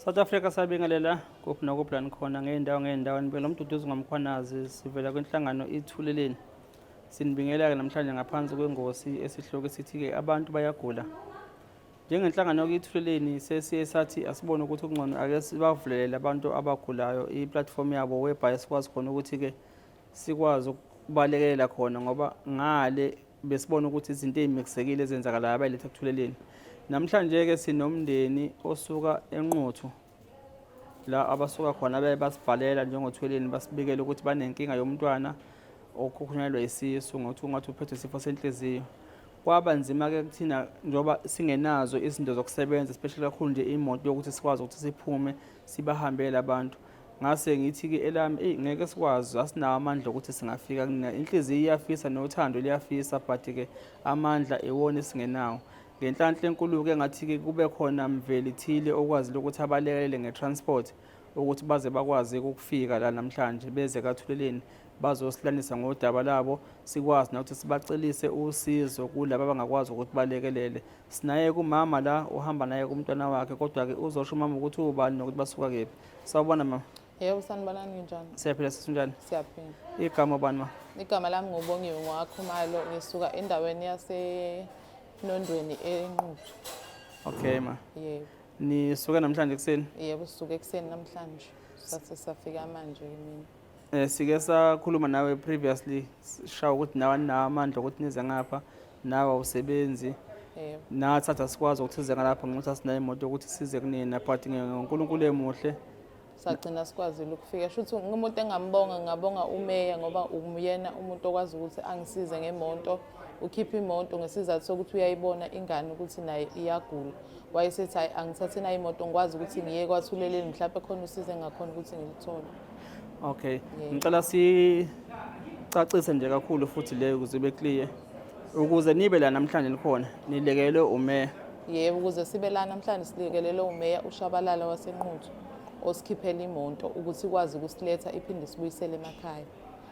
South Africa sabingelela kuphi nokuphi la nikhona ngey'ndawo ngey'ndawo nibela umduduzi ngomkhwanazi sivela kwinhlangano ithuleleni sinibingelela-ke namhlanje ngaphansi kwengosi esihloko esithi-ke abantu bayagula njengenhlangano yokuithuleleni sesiye sathi asibone ukuthi kungcono ake sibavulelele abantu abagulayo iplatform yabo webhayi sikwazi khona ukuthi-ke sikwazi ukubalekelela khona ngoba ngale besibona ukuthi izinto ezimixekile ezenzakalayo abayiletha kuthuleleni namhlanje ke sinomndeni osuka enquthu la abasuka khona baye basibhalela njengothweleni basibikele ukuthi banenkinga yomntwana okhukhunelwa isisu ngokuthi ungathi uphethwe isifo senhliziyo kwaba nzima-ke kuthina njengoba singenazo izinto zokusebenza especially kakhulu nje imoto yokuthi sikwazi ukuthi siphume sibahambele abantu ngase ngithi ke elami eyi ngeke sikwazi asinawo amandla okuthi singafika kunina inhliziyo iyafisa nothando liyafisa but ke amandla iwona esingenawo ngenhlanhla enkulu-ke ngathi-ke kube khona mveli thile okwazile ukuthi abalekelele nge-transport ukuthi baze bakwazi ukufika la namhlanje beze kathuleleni bazosilalisa ngodaba labo sikwazi nokuthi sibacelise usizo kulaba abangakwazi ukuthi balekelele Sinaye kumama la uhamba naye kumntwana wakhe kodwa-ke uzosho umama ukuthi uwubani nokuthi basuka kephi. Sawubona mama. Yebo sanibonani nginjani? Siyaphila sisi unjani? Siyaphila. Igama bani ma? Igama lami ngubongiwe ngowakhumalo ngisuka endaweni yasenondweni enquthu. Okay ma. Yebo. Nisuke namhlanje ekuseni? Yebo sisuke ekuseni namhlanje. Sathi safika manje mina. Eh sike sakhuluma nawe previously sishawa ukuthi nawe namandla ukuthi nize ngapha. nawe awusebenzi yebo nathi sathi asikwazi ukuthi size ngalapha ngenxa ukuthi asinayo imoto yokuthi size kunina but nge- ngonkulunkulu emuhle sagcina sikwazile ukufika shuthi umuntu engambonga ngabonga umeya ngoba uyena umuntu okwazi ukuthi angisize ngemonto ukhiphe imoto ngesizathu sokuthi uyayibona ingane ukuthi naye iyagula wayesethi hayi angithathe nayo imoto ngikwazi ukuthi ngiye kwathuleleni mhlawumbe khona usize engakhona ukuthi ngilithole Okay. Ngicela si sicacise nje kakhulu futhi le ukuze ibe clear ukuze nibe la namhlanje likhona nilekelwe umeya yebo ukuze sibe la namhlanje silekelelwe umeya ushabalala wasenquthu osikhiphela imonto ukuthi ikwazi ukusiletha iphinde sibuyisele emakhaya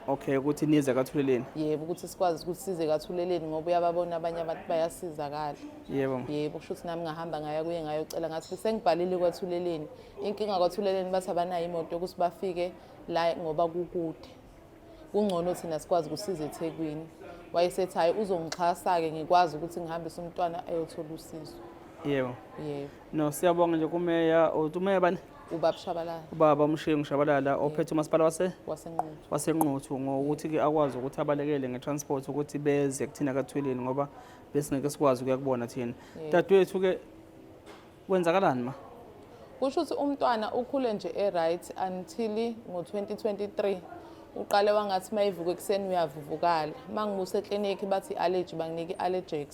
okay ukuthi nize kathuleleni yebo ukuthi sikwazi ukuthi size kathuleleni ngoba uyababona abanye abantu bayasizakala yebo yebo kusho ukuthi nami ngahamba ngaya kuye ngayocela ngathi sengibhalile kwathuleleni Inkinga kwathuleleni bathi abanayo imoto yokuthi bafike la ngoba kukude. Kungcono thina sikwazi ukusiza eThekwini. Wayesethi hayi uzongixhasa-ke ngikwazi ukuthi ngihambise umntwana ayothola usizo. Yebo. Yebo. No siyabonga nje kumeya uthi umeya bani? Ubaba Shabalala. Ubaba uMshingi Shabalala ophethe umasipala wase wasenquthu. Wasenquthu ngokuthi ke akwazi ukuthi abalekele ngetransport ukuthi beze kuthina kathweleni ngoba besingeke sikwazi ukuya kubona thina. Dadwethu ke Kwenzakalani ma? Kusho ukuthi umntwana ukhule nje e-right until ngo-2023 uqale wangathi uma ivuka ekuseni uyavuvukala uma ngibusa eklinikhi bathi i-allergy banginika i-allergex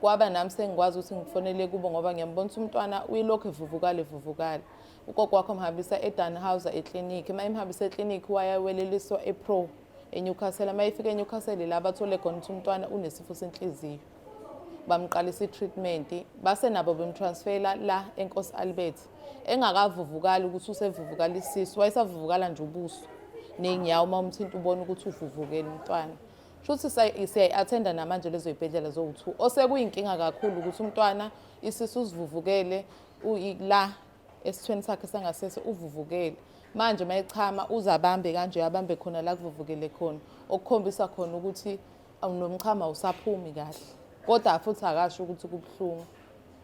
kwaba nami sengikwazi ukuthi ngifonele kubo ngoba ngiyambona ukuthi umntwana uyilokhu evuvukala evuvukala ugogo wakho mhambisa edanhauser eklinikhi uma imhambisa eklinikhi wayaweleliswa epro enewcastle uma ifika enewcastle la bathole khona ukuthi umntwana unesifo senhliziyo bamqalisa i-treatment base nabo bemtransfela la enkosi albert engakavuvukali ukuthi usevuvukala isisu wayesavuvukala nje ubuso ney'nyawo uma umthinta ubona ukuthi uvuvukele umntwana shuthi siyayi-athenda namanje lezo y'bhedlela zowu-two osekuyinkinga kakhulu ukuthi umntwana isisu usivuvukele la esithweni sakhe sangasese uvuvukele manje uma echama uze abambe kanje abambe khona la kuvuvukele khona okukhombisa khona ukuthi Awunomchamo awusaphumi kahle. Kodwa futhi akasho ukuthi kubuhlungu.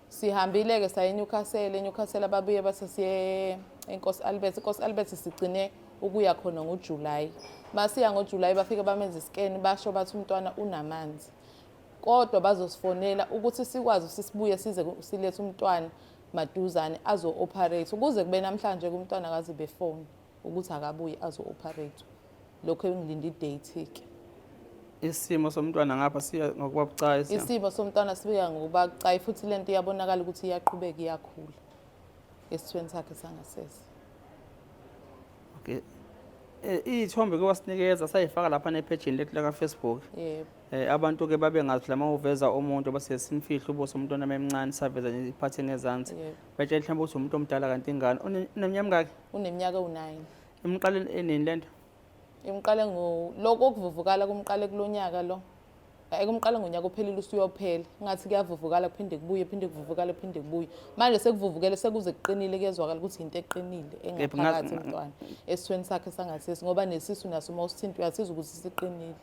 Sihambile ke saye Newcastle, eNewcastle ababuye base siye eNkosi Albert. INkosi Albert sigcine ukuya khona ngoJuly. Masiya ngoJuly bafike bamenza iscan basho bathi umntwana unamanzi. Kodwa bazosifonela ukuthi sikwazi sisibuye size silethe umntwana maduzane azo-operate kuze kube namhlanje kumntwana kazi befoni ukuthi akabuye azo operate lokho engilinde idate ke isimo somntwana ngapha siya ngokuba bucayi isimo somntwana sibuya ngokuba bucayi futhi lento iyabonakala ukuthi iyaqhubeka iyakhula esithweni sakhe sangasese okay eh, iyithombe ke wasinikeza sayifaka lapha nephejini lethu laka Facebook yebo eh abantu ke babe ngathi lama uveza umuntu base simfihla ubuso umuntu onama emncane saveza iphathe ngezansi betshe mhlawumbe ukuthi umuntu omdala kanti ingane uneminyaka Uneminyaka ewu-9. Imqale enini lento? Imqale ngo lokho okuvuvukala kumqale kulonyaka lo. Ekumqale ngonyaka ophelile usuyophela. Ngathi kuyavuvukala kuphinde kubuye, phinde kuvuvukala phinde kubuye. Manje sekuvuvukele sekuze kuqinile kuyezwakala ukuthi into eqinile engaphakathi umntwana. Esweni sakhe sangasisi ngoba nesisu naso uma usithinta uyasizwa ukuthi siqinile.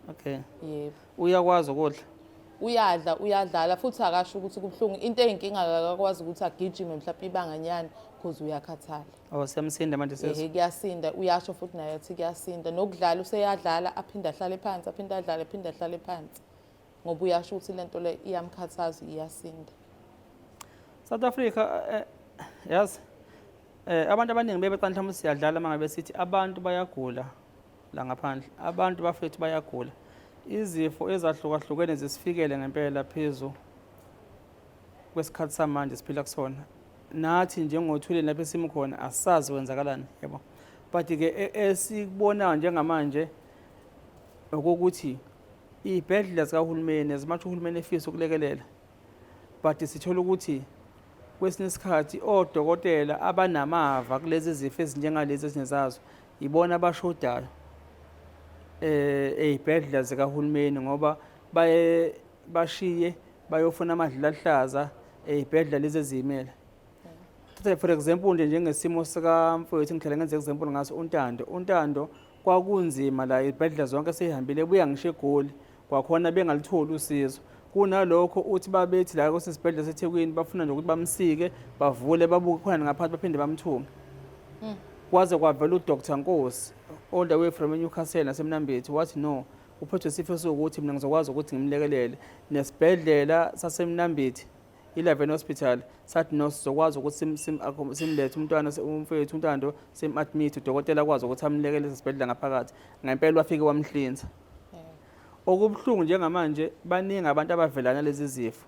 okay yebo uyakwazi ukudla uyadla uyadlala futhi akasho ukuthi kubuhlungu into eyinkinga akakwazi ukuthi agijime mhlawumbe ibanganyana because uyakhathala oh siyamsinda manje sesi ehe kuyasinda uyasho futhi naye athi kuyasinda nokudlala useyadlala aphinde ahlale phansi aphinde adlale aphinde ahlale phansi ngoba uyasho ukuthi lento le iyamkhathaza iyasinda South Africa eh, eh, yazi eh abantu abaningi bebeqala mhlawumbe siyadlala mangabe sithi abantu bayagula la ngaphandle abantu bafethu bayagula izifo ezahlukahlukene zisifikele ngempela phezu kwesikhathi samanje siphila kusona nathi njengothuleni lapho esimu khona asazi kwenzakalani yabo but-ke e-, esikubonayo njengamanje okokuthi iy'bhedlela zikahulumeni as much uhulumeni efisa ukulekelela but sithola ukuthi kwesinye isikhathi odokotela abanamava kulezi zifo ezinjengalezi ezinye zazo Yibona abashodayo eh ezibhedlela zikahulumeni ngoba baye bashiye bayofuna amadlila ahlaza ezibhedlela lezi ezimele thatha for example nje njengesimo sikamfowethu ngihlale ngenza example ngaso untando untando kwakunzima la izibhedlela zonke seyihambile buya ngisho egoli kwakhona bengalutholi usizo kunalokho uthi babethi la kwasesibhedlela sethekwini bafuna nje ukuthi bamsike bavule babuke khona ngaphansi baphinde bamthunge hmm. kwaze kwavela udr nkosi all the way from enewcastle nasemnambithi wathi no uphethwe isifo sokuthi mina ngizokwazi ukuthi ngimlekelele nesibhedlela sasemnambithi i-leven hospital sathi no sizokwazi ukuthi simlethe umntwana umfowethu untando sim-admit udokotela akwazi ukuthi amlekelele esibhedlela ngaphakathi ngempela wafike wamhlinza Okubuhlungu njengamanje baningi abantu abavelana lezi zifo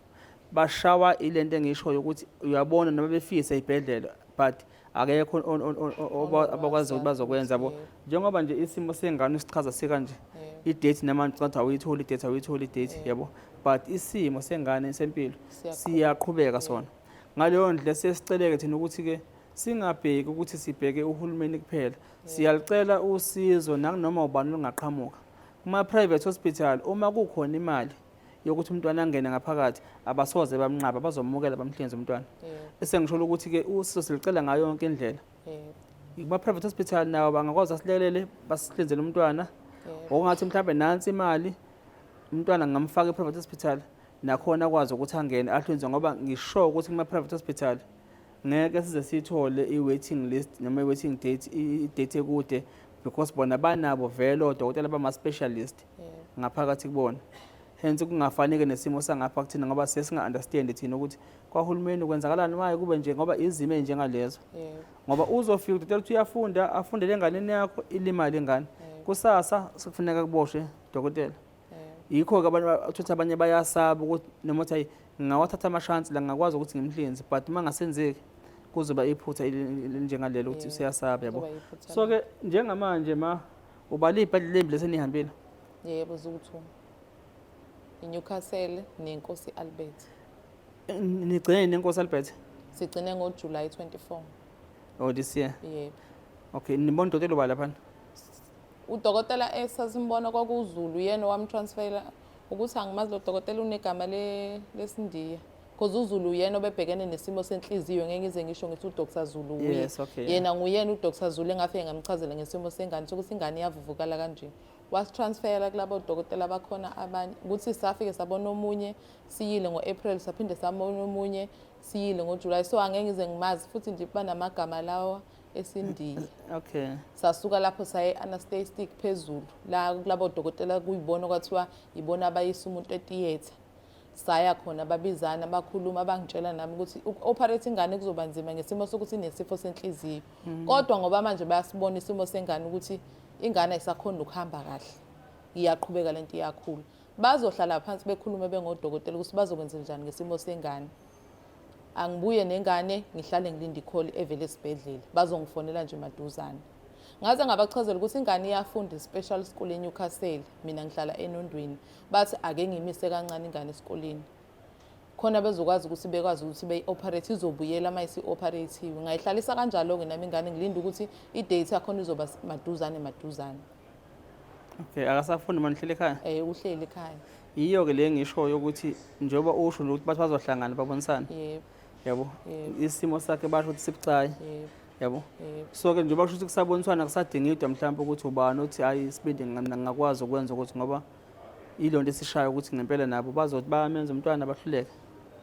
bashawa ilento engishoyo ukuthi uyabona noma befise ibhedlela but akekho abakwazi ukuthi bazokwenza bo njengoba nje isimo sengane sichaza sikanje idate namanje ngathi awuyitholi idate awuyitholi idate yabo but isimo sengane sempilo siyaqhubeka sona ngaleyo ndlela sesiceleke thina ukuthi-ke singabheki ukuthi sibheke uhulumeni kuphela Siyalicela usizo nakunoma ubani olungaqhamuka. Kuma-private hospital uma kukhona imali yokuthi umntwana angene ngaphakathi abasoze bamnqaba bazomukela bamhlinze umntwana. Bese ngisho ukuthi-ke usizo silicela ngayo yonke indlela. Kuma-private hospital nawo bangakwazi asilekelele basihlinzele umntwana. Okungathi mhlawumbe nansi imali umntwana ngamfaka e-private hospital nakhona akwazi ukuthi angene ahlinzwe ngoba ngisho ukuthi kuma-private hospital ngeke size siyithole i-waiting list noma i-waiting date i-date ekude because bona banabo vele odokotela bama-specialist ngaphakathi kubona hence kungafaneke nesimo sangapha kuthina ngoba sesinga-understandi thina ukuthi kwahulumeni kwenzakalani maye kube nje ngoba izimo ey'njengalezo ngoba uzofika udokotela ukuthi uyafunda afundele enganeni yakho ilimali ingane kusasa sekufuneka kuboshwe dokotela yikho-ke abantu uthuthi abanye bayasaba ukuthi noma ukuthi ngingawathatha amashansi la ngingakwazi ukuthi ngimhlinze but uma ngasenzeki kuzoba iphutha elinjengalelo ukuthi useyasaba yabo so-ke njengamanje ma ubale iy'bhadlela embi lesenihambile yebo zukuthuma inewcastle nenkosi albert nigcine nenkosi albert sigcine ngojulayi 24 oh this year yebo okay nibona udokotela ubala phana udokotela esasimbona eh, kwakuwuzulu yena owamtransfela ukuthi angimazi lo dokotela unegama lesindiya because uzulu uyena obebhekene nesimo senhliziyo ngeke ngize ngisho ngithi udr zulu uye yes, okay, yena yeah. nguyena udr zulu engafike ngamchazela ngesimo sengane sokuthi ingane iyavuvukala kanje wasitransfera kulabo dokotela bakhona abanye ukuthi safike sabona omunye siyile ngo-april saphinde sabona omunye siyile ngojulayi so angeke ngize ngimazi futhi nje banamagama lawa esindiya okay sasuka lapho saye anesthetic phezulu la kulabo dokotela kuyibona kwathiwa yibona abayisa umuntu etheater saya khona babizana bakhuluma abangitshela nami ukuthi uku-operate ingane kuzoba nzima ngesimo sokuthi inesifo senhliziyo mm. kodwa ngoba manje bayasibona isimo sengane ukuthi ingane ayisakhona ukuhamba kahle iyaqhubeka lento iyakhula bazohlala phansi bekhulume bengodokotela ukuthi bazokwenza njani ngesimo sengane angibuye nengane ngihlale ngilinde ikholi evele esibhedlela bazongifonela nje maduzane ngaze ngabachazela ukuthi ingane iyafunda i-special school enewcastle mina ngihlala enondweni bathi ake ngimise kancane ingane esikoleni khona bezokwazi ukuthi bekwazi ukuthi beyi-operate izobuyela uma isi-operatiwe ngayihlalisa kanjalo-ke nami ingane ngilinde ukuthi i-date yakhona izoba maduzane maduzane okay akasafundi manihleli ekhaya um uhleli ekhaya yiyo ke le ngishoyo ukuthi njengoba usho nje ukuthi bathi bazohlangana babonisane yebo yabo isimo sakhe basho ukuthi sibucayi yabo so ke njengoba kusho ukuthi kusaboniswana kusadingidwa mhlawumbe ukuthi ubani othi hayi isibindi ngingakwazi ukwenza ukuthi ngoba yilo nto esishayo ukuthi ngempela nabo bazothi bayamenza umntwana bahluleke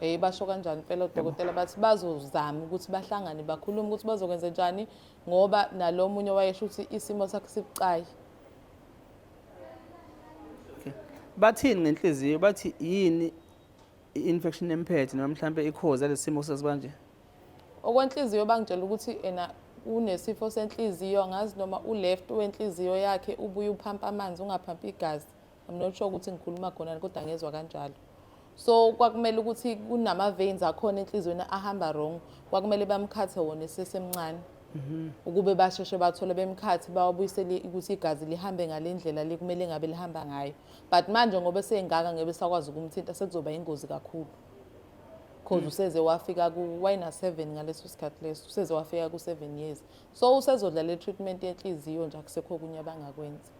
Eh basho kanjani impela odokotela bathi bazozama ukuthi bahlangane bakhulume ukuthi bazokwenza njani ngoba nalomunye wayesho ukuthi isimo sakhe sibucayi Okay. Bathini ngenhliziyo bathi yini i-infection emphethe noma mhlampe ikhoza lesimo sesibanje? Okwenhliziyo bangitshela ukuthi ena unesifo senhliziyo angazi noma uleft wenhliziyo yakhe ubuye uphampa amanzi ungaphampi igazi. I'm not sure ukuthi ngikhuluma khona kodwa ngezwa kanjalo. so kwakumele ukuthi kunama veins akhona enhlizweni ahamba wrong kwakumele bamkhathe wona esesemncane mhm. ukube basheshe bathole bemkhathi bawabuyisele ukuthi igazi lihambe ngale ndlela le kumele ngabe lihamba ngayo but manje ngoba esengaka ngebe sakwazi ukumthinta sekuzoba ingozi kakhulu because mm. useze wafika kuwayina seven ngaleso sikhathi leso useze wafika ku-seven years so usezodlala i-treatment yenhliziyo nje akusekho okunye abangakwenza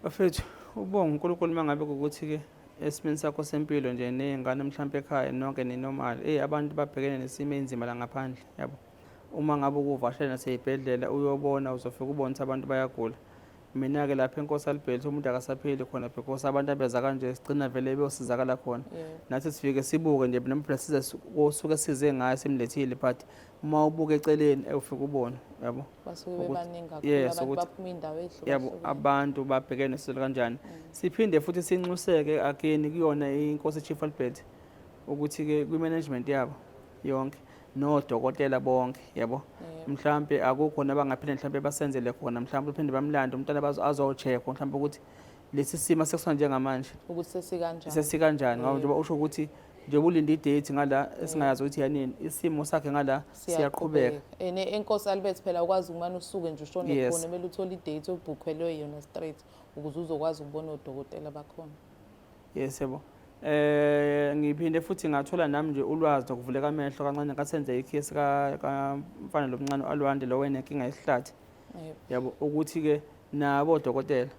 bafethu ubonga unkulunkulu uma ngabe kukuthi-ke esimeni sakho sempilo nje ney'ngane mhlawumpe ekhaya nonke ninomali eyi abantu babhekene nesimo eyinzima la ngaphandle yabo uma ngabe ukuvashela naseyibhedlela uyobona uzofika ubone ukuthi abantu bayagula mina-ke lapha enkosi alibheli umuntu akasapheli khona because abantu abeza kanje sigcina vele beyosizakala khona nathi sifike sibuke nje nempela size kosuke size ngayo simlethile but uma ubuka eceleni ewufika ubone yabo basuke bebaningi kakhulu abantu baphuma indawo ehlukile yabo abantu babhekene nesizwe kanjani mm. siphinde futhi sinxuseke akeni kuyona inkosi chief Albert ukuthi ke kwi management yabo yonke nodokotela bonke yabo mhlambe akukho nabangaphinde mhlambe basenzele khona mhlambe uphinde bamlande umntana bazo azocheck mhlambe ukuthi lesi simo sekusona njengamanje ukuthi sesikanjani sesikanjani ngoba njengoba usho ukuthi njengoba ulinde idate ngala esingayazi ukuthi yanini isimo sakhe ngala siyaqhubeka ene enkosi alibeth phela ukwazi umane usuke nje ushone yes. khona kumele uthole idate obhukhelwe yona straight ukuze uzokwazi ukubona odokotela bakhona yes yebo eh ngiphinde futhi ngathola nami nje ulwazi lokuvuleka amehlo kancane kasenze ikhesi ka kamfana lomncane alwande lo wena inkinga yesihlathi yabo ukuthi-ke nabo odokotela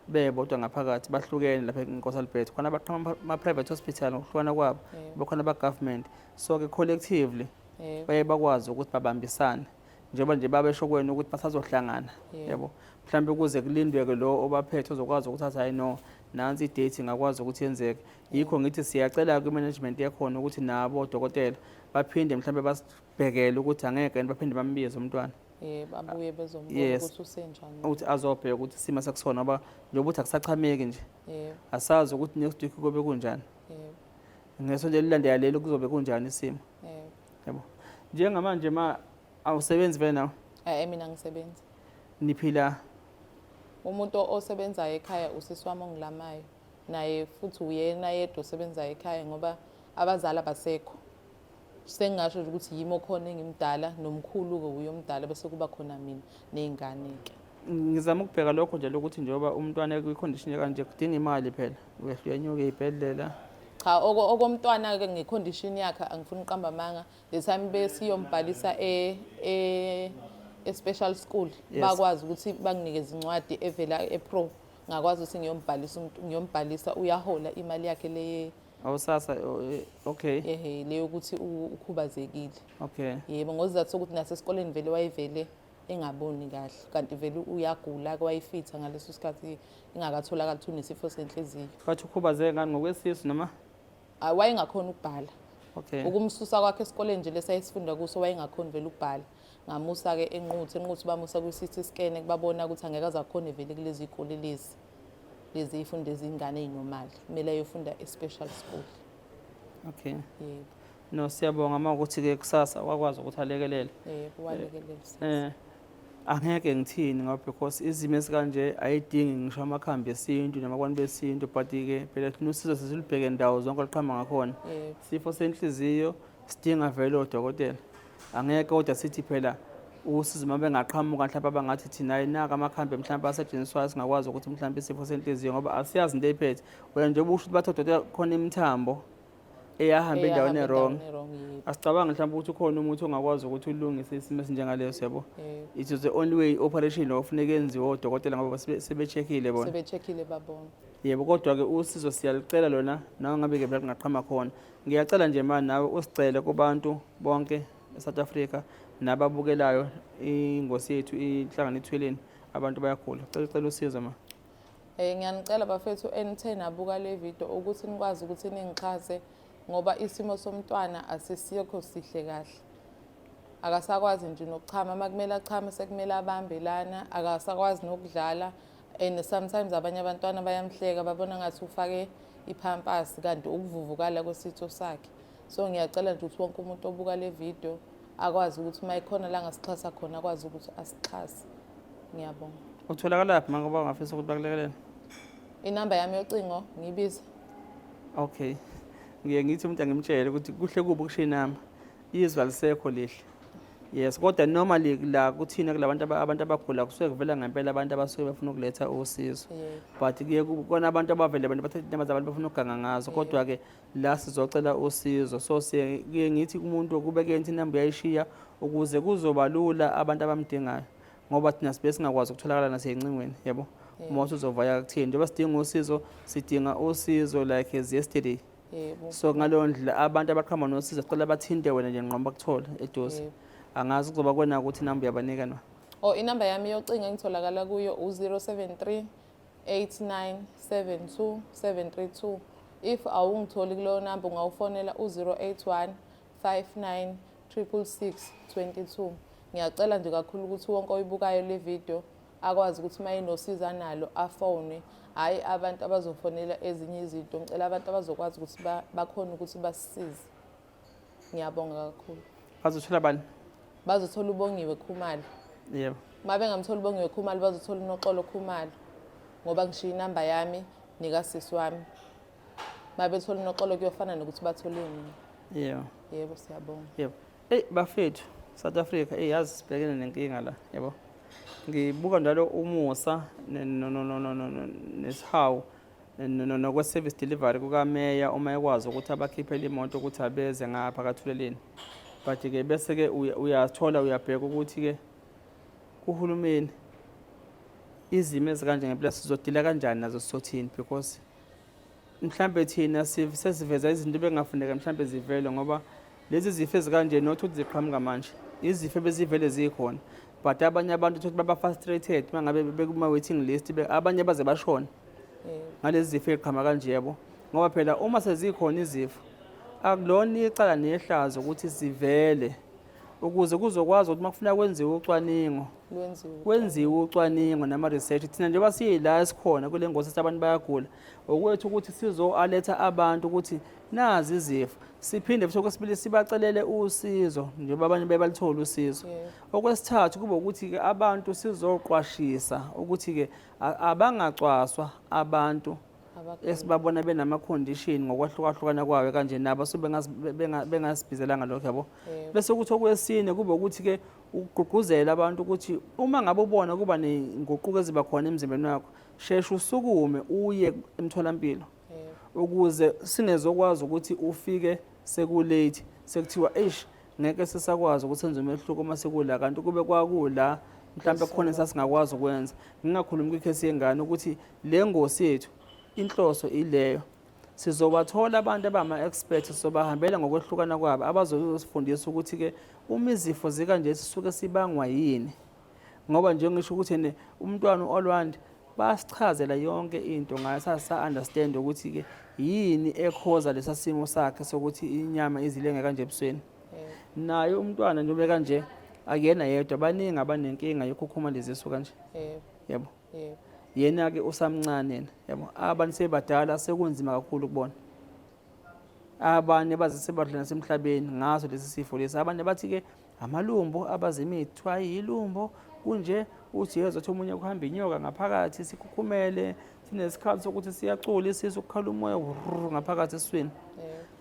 bebodwa ngaphakathi bahlukene lapha enkosi albert khona abaqhama ama-private hospital ngokuhlukana kwabo bekhona abagovernment so-ke collectively baye bakwazi ukuthi babambisane njengoba nje babesho kwena ukuthi basazohlangana yabo mhlawumbe ukuze kulindwe-ke lo obaphethe ozokwazi ukuthi athi hayi no nansi idate ingakwazi ukuthi yenzeke yikho ngithi siyacela kwi-management yakhona ukuthi nabo odokotela baphinde mhlawumbe basibhekele ukuthi angeke baphinde bambize umntwana yebo abuye bezombona Yes. ukuthi usenjani ukuthi azobheka ukuthi isimo sakusona ngoba njengoba ukuthi akusachameki nje yebo asazi ukuthi next week kobe kunjani yebo ngesonto elilandela leli kuzobe kunjani isimo yebo yabo njengamanje ma awusebenzi vele nawe eh mina ngisebenza niphila umuntu o- osebenzayo ekhaya usisi wami ongilamayo naye futhi uyena yedwa osebenzayo ekhaya ngoba abazali abasekho sengingasho nje ukuthi yimi okhona engimdala nomkhulu-ke wuye omdala bese kuba khona mina ney'ngane-ke ngizama ukubheka lokho nje lokuthi njengoba umntwana kwikhondishini kanje kudinga imali phela uyehla uyanyuke iy'bhedlela cha okomntwana-ke ngekhondishini yakhe angifuni uqamba amanga the time besiyombhalisa e, e, e-special school bakwazi ukuthi banginike izincwadi evela e-pro ngakwazi ukuthi ngiyombhalisa ngiyombhalisa uyahola imali yakhe leye awusasa eh, okay ehe leyo ukuthi u- ukhubazekile okay yebo ngozizathu sokuthi nasesikoleni vele wayevele engaboni kahle kanti vele uyagula ke wayefitha ngaleso sikhathi ingakatholakali ukuthi unesifo senhliziyo bathi ukhubazeke ngani ngokwesisu noma Ah, wayengakhona ukubhala okay ukumsusa kwakhe esikoleni nje lesayesifunda kuso wayengakhoni vele ukubhala ngamusa-ke enquthi enquthi bamusa kwi-city scan kubabona ukuthi angeke azakhone vele kulezi goli lezi lezi ifundo ezingane ezinomali kumele ayofunda e-special school okay yebo no siyabonga uma ukuthi ke kusasa wakwazi ukuthi alekelele yebo walekelele eh angeke ngithini ngoba because izimo esikanje ayidingi ngisho amakhambi esintu namakwantu besintu but ke phela thina usizo sesilubheke ndawo zonke oluqhamba ngakhona sifo senhliziyo sidinga vele odokotela Angeke kodwa sithi phela usizo uma bengaqhamuka mhlawumbe abangathi thina ayinaka amakhambi mhlawumbe asetshenziswayo singakwazi ukuthi mhlawumbe isifo senhliziyo ngoba asiyazi into eyiphethe wena nje ubusho ukuthi bathi odokotela khona imithambo eyahamba endaweni erong asicabangi mhlawumbe ukuthi ukhona umuthi ongakwazi ukuthi ulungise isimo esinjengaleso yabo it is the only way operation lo ofuneka enziwe odokotela ngoba sebecheckile bona sebecheckile babona yebo kodwa-ke usizo siyalicela lona nawo ngabe-ke bela lingaqhama khona Ngiyacela nje mani nawe usicele kubantu bonke eSouth Africa nababukelayo ingosi yethu ihlangana ethweleni abantu bayagula. Cela ucela usizo ma. Eh ngiyanicela bafethu enithe nabuka le video ukuthi nikwazi ukuthi ningixhase ngoba isimo somntwana asisikho sihle kahle. Akasakwazi nje nokuchama, makumele achame sekumele abambe lana, akasakwazi nokudlala. and sometimes abanye abantwana bayamhleka babona ngathi ufake iphampasi kanti ukuvuvukala kwesitho sakhe so ngiyacela nje ukuthi wonke umuntu obuka le video akwazi ukuthi uma ikhona la ngasixhasa khona akwazi ukuthi asixhase ngiyabonga utholakalaphi manje ngoba ungafisa ukuthi bakulekelele inamba yami yocingo ngibiza okay ngiye ngithi umuntu angimtshele ukuthi kuhle kubi ukushiya inamba izwe alisekho lihle yes kodwa normally la kuthina kulabantu abantu abagula kusuke kuvela ngempela abantu abasuke befuna ukuletha usizo but kuye kona abantu abavele abantu bathatha indaba zabantu bafuna ukuganga ngazo kodwa ke la sizocela usizo so siye kuye ngithi kumuntu kubeke into inamba uyayishiya ukuze kuzoba lula abantu abamdingayo ngoba thina sibe singakwazi ukutholakala naseyincingweni yabo uma usuzovaya kuthini njengoba sidinga usizo sidinga usizo like as yesterday yebo so ngaleyo ndlela abantu abaqhamba nosiza sicela bathinte wena nje nqoba kuthole eduze Yebo. angazi kuzoba kwena ukuthi namba uyabanika na o Oh, inamba yami yocingo engitholakala kuyo u-073 8972 732 if awungitholi kuleyo namba ungawufonela u-081 59 666 22 ngiyacela nje kakhulu ukuthi wonke oyibukayo le video akwazi ukuthi uma enosizo analo afone hhayi abantu abazofonela ezinye izinto ngicela abantu abazokwazi ukuthi bakhona ukuthi basisize ngiyabonga kakhulu bazothola bani bazothola ubongiwe khumalo yebo uma bengamthola ubongiwe khumalo bazothola unoxolo khumalo ngoba ngishiye inamba yami nikasisi wami uma bethola unoxolo kuyofana nokuthi bathole mina yebo yebo siyabonga yebo Eyi bafethu South Africa eyi yazi sibhekene nenkinga la yabo ngibuka njalo umusa nesihawu nokwe-service delivery kukameya uma ekwazi ukuthi abakhiphele imoto ukuthi abeze ngapha kathuleleni but-ke bese-ke uyathola uyabheka ukuthi-ke kuhulumeni izimo ezikanje ngempela sizodila kanjani nazo sizothini because mhlambe thina sesiveza izinto bengafuneka mhlambe zivele ngoba lezi zifo ezikanje not ukuthi ziqhamuka manje izifo bezivele zikhona but abanye abantu ukuthi baba frustrated mangabe bekuma waiting list abanye baze bashona ngalezi zifo eziqhama kanje yabo ngoba phela uma sezikhona izifo akulona icala nehlazo ukuthi sivele ukuze kuzokwazi ukuthi makufuna kwenziwe ucwaningo kwenziwe ucwaningo nama research thina njengoba siyila esikhona kule ngosi abantu bayagula okwethu ukuthi sizoaletha abantu ukuthi nazi izifo siphinde futhi okwesibili sibacelele usizo njengoba abanye bebalithole usizo okwesithathu kube ukuthi-ke abantu sizoqwashisa ukuthi-ke abangacwaswa abantu esibabona benama-condition ngokwahlukahlukana kwayo kanje nabo so bengasibhizelanga lokho yabo bese ukuthi okwesine kube ukuthi-ke ukugqugquzela abantu ukuthi uma ngabe ubona kuba ney'nguquko eziba khona emzimbeni wakho sheshe usukume uye emtholampilo ukuze singezokwazi ukuthi ufike sekulate sekuthiwa eish ngeke sisakwazi ukuthi senze umehluko uma sekula kanti kube kwakula mhlawumbe khona esasingakwazi ukwenza ngingakhulumi kwikhesi yengane ukuthi le ngosi yethu inhloso ileyo sizobathola abantu abama-expert sobahambela ngokwehlukana kwabo abazosifundisa ukuthi-ke uma izifo zikanje sisuke sibangwa yini ngoba nje ngisho ukuthi ne umntwana uOlwand basichazela yonke into ngayo sasa understand ukuthi ke yini ekhoza lesasimo sakhe sokuthi inyama izilenge kanje ebusweni naye umntwana njengoba kanje akuyena yedwa baningi abanenkinga yokhukhuma lezisu kanje yebo yena ke usamncane yena yebo abantu sebadala sekunzima kakhulu kubona abanye bazise badlula nasemhlabeni ngaso lesi sifo lesi abanye bathi ke amalumbo abazimithi ayilumbo kunje uthi yezwa ukuthi omunye kuhamba inyoka ngaphakathi sikhukhumele sinesikhathi sokuthi siyacula isisu kukhala umoya ngaphakathi eswini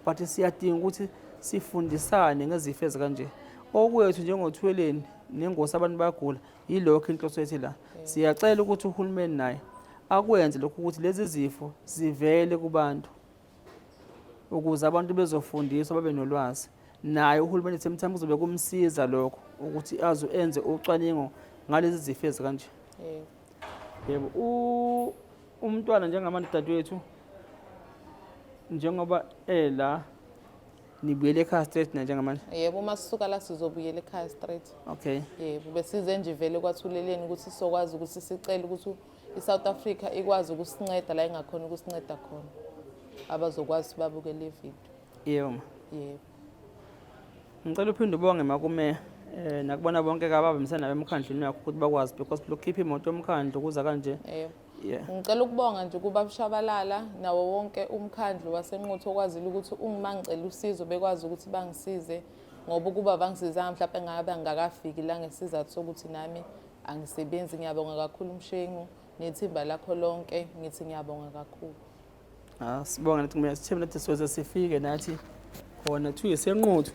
but siyadinga ukuthi sifundisane ngezifo ezikanje okwethu njengothweleni nengosi abantu bayagula yilokho inhloso yethi la siyacela ukuthi uhulumeni naye akwenze lokhu ukuthi lezi zifo zivele kubantu ukuze abantu bezofundiswa babe nolwazi naye uhulumeni semthamo kuzobe kumsiza lokho ukuthi azo enze ucwaningo ngalezi zifo ezikanje yebo umntwana njengamanje dadewethu njengoba ela nibuyele ekhaya straight na njengamanje yebo uma sisuka la sizobuyela ekhaya straight okay yebo besize nje vele kwathuleleni ukuthi sizokwazi ukuthi sicele ukuthi I-South Africa ikwazi ukusinceda la ingakhona ukusinceda khona abazokwazi babuke le video. Yebo. Yebo. Ngicela uphinde ubonge makume eh nakubona bonke kababambisana nabemkhandlwini yakho ukuthi bakwazi because lokukhipha imoto yomkhandlu kuza kanje. Yebo. ngicela ukubonga nje kuba bushabalala nawo wonke umkhandlu wasenquthu okwazile ukuthi ungima ngicela usizo bekwazi ukuthi bangisize ngoba ukuba bangisizanga mhlawumbe ngabe angakafiki la ngesizathu sokuthi nami Angisebenzi, ngiyabonga kakhulu Mshengu nethimba lakho lonke, ngithi ngiyabonga kakhulu. Ah, sibonga nathi kumele sithembe nathi sizoze sifike nathi khona kuthiwa isenquthu.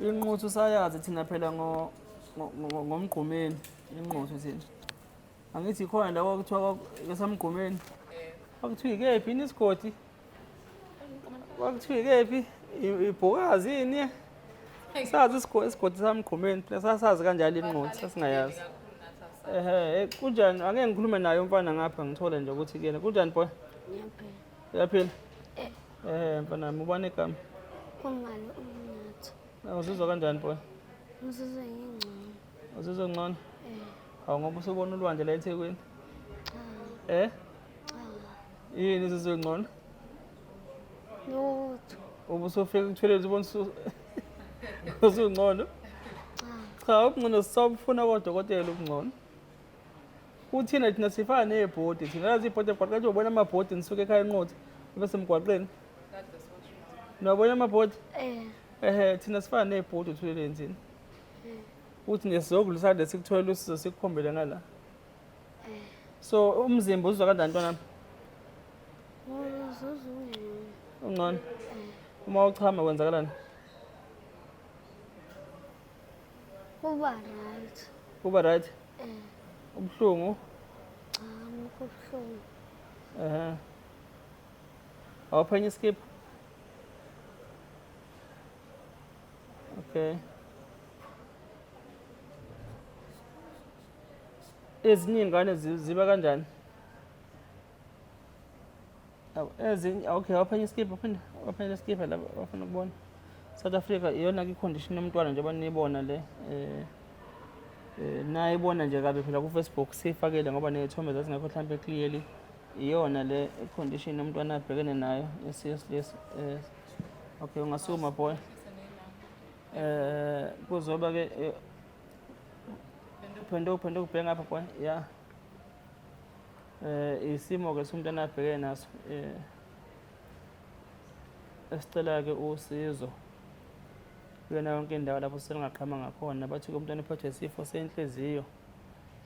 Inquthu sayazi thina phela ngo ngo- ngo- ngomgqumeni inquthu thina. Angithi khona la kwakuthiwa kwaku- esamgqumeni. Kwakuthiwa ikephi yini isigodi? kwakuthiwa ikephi ibhokazi yini sazi isigodi sami gqumeni phela sasazi kanjalo inqothi sasingayazi ehe eh, kunjani angeke ngikhulume naye umfana ngapha ngithole nje ukuthi kuyena kunjani boy uyaphila eh. ehe mfana mi ubani igama umngane umnatho uzizwa kanjani boy ngizizwa ngingcono Uzizwa ngcono? Eh. Awu ngoba usubona ulwandle la eThekwini? Cha. Eh? Cha. Yini uzizwa ngcono? Lutho. Ubusufika kuthwelezi ubona usungcono? Cha. Cha, ukungcono sisabufuna kodokotela ukungcono. Kuthina thina sifana nebhodi, thina lazi ibhodi emgwaqeni ubona amabhodi nisuke ekhaya enqotha ibe semgwaqeni. Nabona amabhodi? Eh. Ehe, thina sifana nebhodi uthuleleni thina. uthi nesizokulu sade sikutholela usizo sikukhombele ngala so umzimba uzizwa kanjani ntwanami ungcono uma uchama kwenzakalani kuba right kuba right ubuhlungu cha ngikho ubuhlungu ehe awuphenya iskiphu Okay. Ezinye ingane ziba kanjani? Ezinye okay, waphenya iskipha, waphenya waphenya iskipha la wafuna ukubona. South Africa iyona ke condition yomntwana njengoba niyibona le eh eh naye ibona nje kabe phela ku Facebook sifakele ngoba nezithombe zazingekho mhlambe clearly iyona le condition yomntwana abhekene nayo yes yes yes eh, Okay, ungasukuma boy. Eh kuzoba ke eh, phenduka phenduka ubheke ngapha boy. Yeah. Eh isimo ke somntana abheke naso. Eh esicela ke usizo. Kuyona yonke indawo lapho selingaqhama ngakhona bathi ke umntwana uphethwe isifo senhliziyo.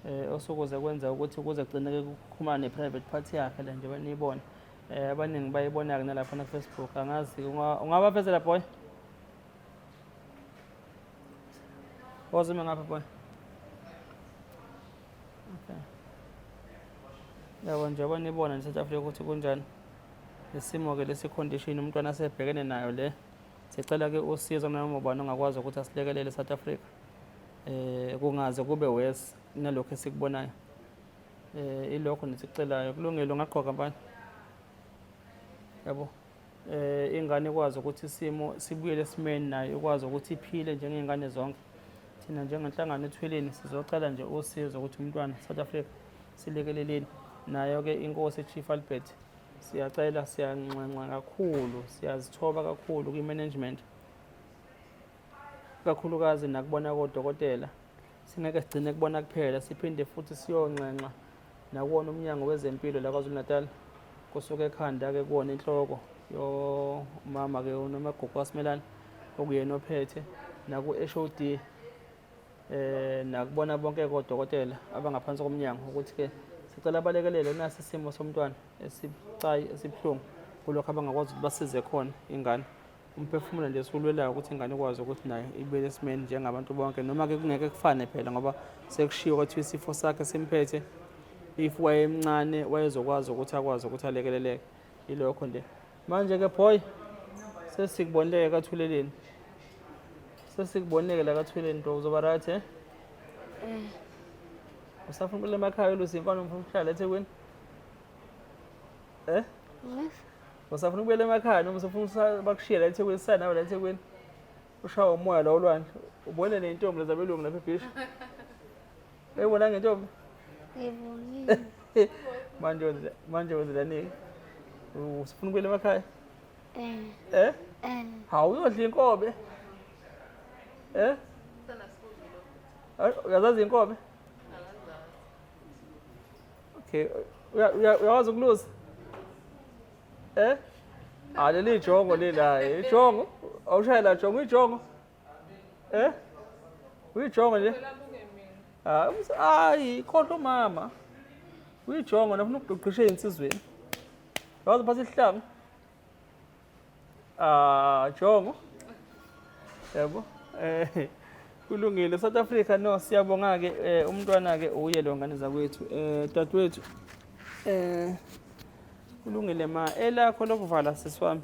Eh osokuze kwenza ukuthi kuze kugcineke kukhumane private party yakhe la nje banibona. Eh abaningi bayibona-ke nalapha na-Facebook angazi ungabafezela boy ozume ngapha boy okay yabo njengoba nibona nje south africa ukuthi kunjani isimo-ke lesi condition umntwana asebhekene nayo le sicela-ke usizo nanoma ubani ongakwazi ukuthi asilekelele south africa um kungaze kube worse nalokhu esikubonayo eh ilokho nesicelayo kulungile ungagqoka abanye yabo eh ingane ikwazi ukuthi isimo sibuyele esimeni nayo ikwazi ukuthi iphile njengezingane zonke thina njengenhlangano ethweleni sizocela nje usizo ukuthi umntwana South Africa silekeleleni nayo ke inkosi Chief Albert siyacela siyanxenxa kakhulu siyazithoba kakhulu kwi-management kakhulukazi nakubona kodokotela Singeke sigcine kubona kuphela, siphinde futhi siyonxenxa nakuwona umnyango wezempilo la KwaZulu-Natal kusuke ekhanda-ke kuwona inhloko yomama-ke unomagugu kwasimelana okuyena ophethe naku-HOD um eh, nakubona bonke kodokotela abangaphansi komnyango ukuthi-ke sicela abalekelele unasi isimo somntwana esibucayi esibuhlungu kulokho abangakwazi ukuthi basize khona ingane umphefumulo nje siwulwelayo ukuthi ingane ikwazi ukuthi nayo ibe nesimeni njengabantu bonke noma-ke kungeke kufane phela ngoba sekushiwo kwathiwa isifo sakhe simphethe if wayemncane wayezokwazi ukuthi akwazi ukuthi alekeleleke yilokho nje manje-ke boy sesikubonile-ke kathuleleni sesikubonile-ke la kathuleleni nto uzoba right eh? eh usafuna ukule emakhaya olusi imfana umfuna ukuhlala ethekwini eh yes Usafuna ukubuyela emakhaya noma usafuna usa- bakushiye la eThekwini sisale nawe la eThekwini. Ushawa umoya la olwandle. Ubone nentombi leza belungu lapha ebhisha. Uyibona ngentombi? Ngibonile. Manje wenze manje wenze lani? Usifuna ukubuyela emakhaya? Eh, Eh? eh. Hawu uyodla inkobe. Eh? Ay, Uyazazi inkobe? Okay, uyawazi ukulusa? Eh? Ah, leli jongo leli hayi. Ijongo. Awushayela jongo ijongo. Eh? Uyijongo nje? Ah, hayi, khohlwa umama. Uyijongo nafuna ukugqisha insizweni. Wazi phatha isihlanga. Ah, Jongo. Yebo. Eh kulungile South Africa no siyabonga ke eh, umntwana ke uye lo ngane zakwethu eh dadwethu eh kulungile ma elakho lokuvala siswami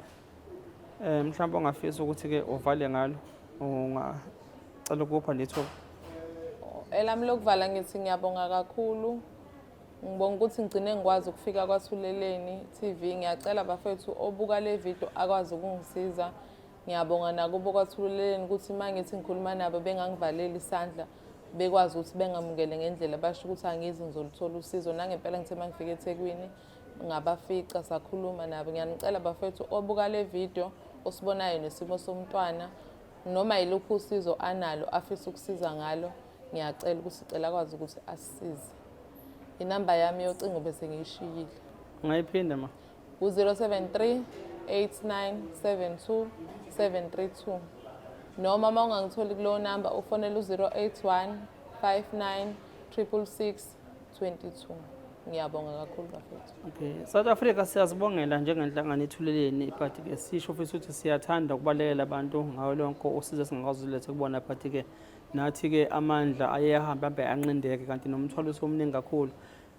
eh mhlawumbe ongafisa ukuthi ke uvale ngalo ungacela ukupha letho elami lokuvala ngithi ngiyabonga kakhulu Ngibonga ukuthi ngigcine ngikwazi ukufika kwaThuleleni TV. Ngiyacela bafethu obuka le video akwazi ukungisiza. Ngiyabonga nakubo kwaThuleleni ukuthi uma ngithi ngikhuluma nabo bengangivaleli isandla bekwazi ukuthi bengamukele ngendlela basho ukuthi angizi ngizoluthola usizo nangempela ngithe uma ngifika ethekwini ngabafica sakhuluma nabo ngiyanicela bafethu obuka le video osibonayo nesimo somntwana noma yiluphi usizo analo afisa ukusiza ngalo ngiyacela ukuthi sicela akwazi ukuthi asisize inamba yami yocingo bese ngiyishiyile ungayiphinde ma u-073 8972 732 noma uma ungangitholi kulowo namba ufonele u-081 59 666 22 ngiyabonga kakhulu bafethu okay south africa siyazibongela njengenhlangano ethuleleni but ke sisho futhi ukuthi siyathanda ukubalekela abantu ngawo lonke usizo esingakwazi ulethe kubona but ke Nathi-ke amandla aye ahambe abe anqindeke kanti nomthwalo usomningi kakhulu.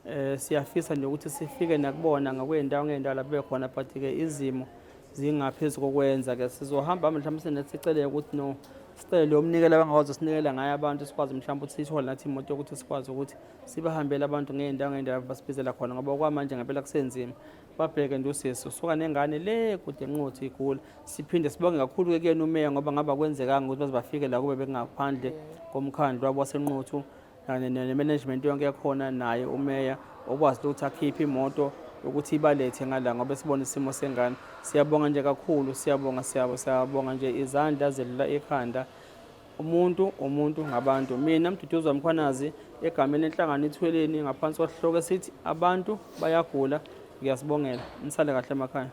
Eh siyafisa nje ukuthi sifike nakubona ngakwezindawo ngezindawo lapho bekhona but ke izimo zingaphezu kokwenza ke sizohamba mhlawumbe sineseceleke ukuthi no sicele umnikelo abangakwazi usinikela ngayo abantu sikwazi mhlawumbe ukuthi sithole nathi imoto yokuthi sikwazi ukuthi sibahambele abantu ngey'ndawo ngey'ndawo basibizela khona ngoba kwamanje ngempela kusenzima babheke nje usisi usuka nengane le kude nqothi igula siphinde sibonge kakhulu ke kuyena umeya ngoba ngaba kwenzekanga ukuthi baze bafike la kube bekungaphandle komkhandlu wabo wasenqothu ne-management yonke yakhona naye umeya okwazi ukuthi akhiphe imoto ukuthi ibalethe ngala ngoba sibona isimo sengane siyabonga nje kakhulu siyabonga siyabonga nje izandla zelula ikhanda umuntu umuntu ngabantu mina mduduzi wamkhwanazi egameni enhlangano ithweleni ngaphansi kwasihloko esithi abantu bayagula ngiyasibongela nisale kahle emakhaya